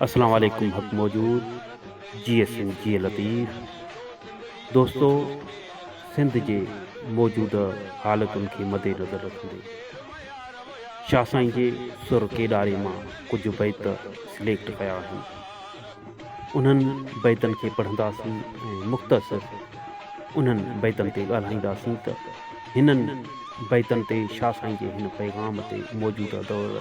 اسلام عليڪم حق موجود جيئي سنڌ جيئي لطيف دوستو سنڌ جي موجوده حالتن کي مدي نظر رکندي شاھ سائين جي سر ڪيڏاري مان ڪجھ بيت سليڪٽ ڪيا آھن انھن بيتن کي پڙھنداسين ۽ مختصر انھن بيتن تي ڳالھائينداسين ته ھنن بيتن تي شاھ سائين جي ھن پيغام تي موجوده دور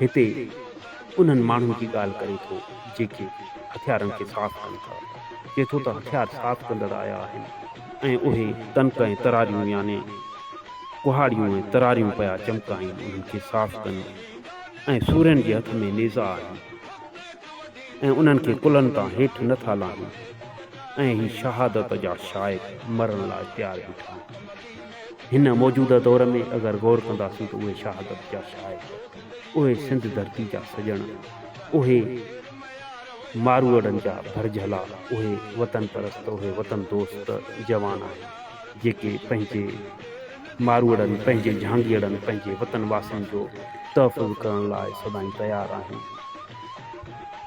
هتي انهن ماڻهن جي ڳالهه ڪري ٿو جيڪي هٿيارن کي صاف ڪن ٿا. چئي ٿو ته هٿيار صاف ڪندڙ آيا آهن ۽ اهي تنڪ ۽ تراريون يعني ڪهاڙيون ۽ تراريون پيا چمڪائين انهن کي صاف ڪن ۽ سورين جي هٿ ۾ نيزا آهن ۽ انهن کي ڪلهن تان هيٺ نه ٿا لاهين ۽ هي شهادت جا شائق مرڻ لاء تيار بيٺا آهن. هن موجوده دور ۾ اگر غور ڪنداسون ته اهي شهادت جا شاعر، اهي سنڌ ڌرتي جا سڄڻ، اهي ماروئڙن جا ڀرجهلا، اهي وطن پرست، اهي وطن دوست جوان آهن، جيڪي پنهنجي ماروئڙن، پنهنجي جهانگيئڙن، پنهنجي وطن واسين جو تحفظ ڪرڻ لاء سدائين تيار آهن.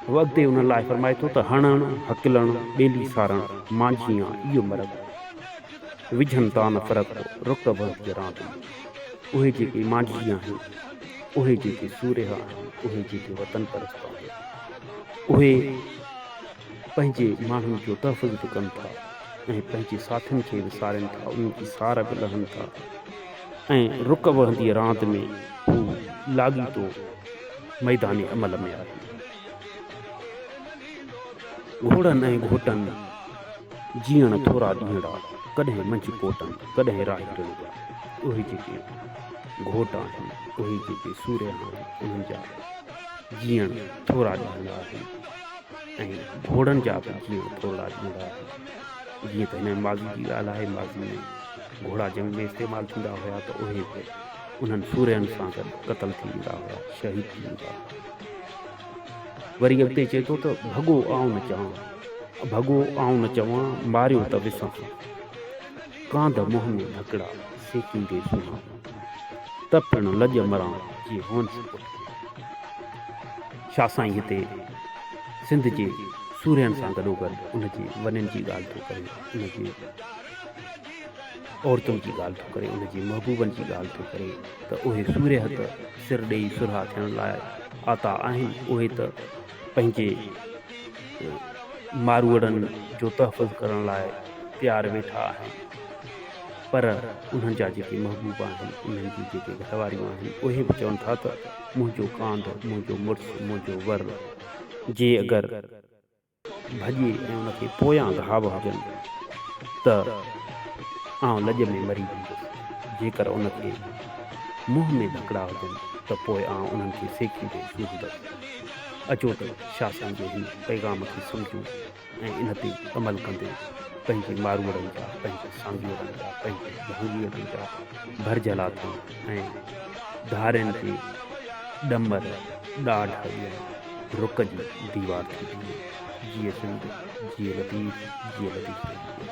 هو اڳتي انهن لاء فرمائي ٿو ته هڻڻ، هڪلڻ، ٻيلي سارڻ، مانجهيان، ايو مرگ. وجهن تان فرق رڪب هز جران تي. اهي جيڪي مانجهي آهن، اهي جيڪي سورهيه آهن، اهي جيڪي وطن پرست آهن، اهي پنهنجي ماڻهن جو تحفظ به ڪن ٿا ۽ پنهنجي ساٿين کي به سارين ٿا، انهن جي سار به لهن ٿا ۽ رڪب هنديء راند ۾ هو لاڳيتو ميدان عمل ۾ آهن. گهوڙن ۽ گهوٽن جيئڻ ٿورا ڏينهڙا، ڪڏهن منجهه ڪوٽن، ڪڏهن راهي ٽڻ جا. اهي جيڪي گهوٽ آهن، اهي جيڪي سورهيا آهن، انهن جا جيئڻ ٿورا ڏينهڙا آهن ۽ گهوڙن جا به جيئڻ ٿورڙا ڏينهڙا آهن. جيئن ته هن ۾ ماضي جي ڳالهه آهي، ماضي ۾ گهوڙا جنگ ۾ استعمال ٿيندا هيا ته اهي به انهن سورهين سان گڏ قتل ٿي ويندا هيا، شهيد ٿي ويندا هيا. وري اڳتي چئي ٿو ته ڀڳو آئون نه چوان، ڀڳو آئون نه چوان، ماريو ته وسان، ڪانڌ منهن ۾ ڍڪڙا، سيڪيندي سنهان، ته پڻ لڄ مران، جي هونس پٺيان. شاهه سائين هتي سنڌ جي سورهين سان گڏوگڏ ان جي ونين جي ڳالهه ٿو ڪري، ان جي عورتن جي ڳالهه ٿو ڪري، ان جي محبوبن جي ڳالهه ٿو ڪري ته اهي سورهيه ته، سر ڏيئي سرها ٿيڻ لاء آتا آهن اهي ته پنهنجي ماروئڙن جو تحفظ ڪرڻ لاء تيار ويٺا آهن پر انهن جا جيڪي محبوب آهن انهن جون جيڪي گهر واريون آهن اهي به چون ٿا ته منهنجو ڪانڌ منهنجو مڙس منهنجو ور جي اگر ڀڄي ۽ ان کي پويان گهاو هجن ته آئون لڄ ۾ مري ويندس. جيڪر ان کي منهن ۾ ڌڪڙا هجن ته پوء آئون انهن کي سيڪيندي سوزندس. اچو ته شاهه سائين جي هن پيغام کي سمجهون ۽ ان تي عمل ڪندي پنهنجي ماروئڙن جا، پنهنجي سانگيئڙن جا، پنهنجي جهانگيئڙن جا ڀرجهلا ٿيون. ۽ ڌارين تي ڏمر، ڏاڍ ۽ رڪ جي ديوار ٿي بيهي. جيئي سنڌ، جيئي لطيف، جيئي لطيف رحمان.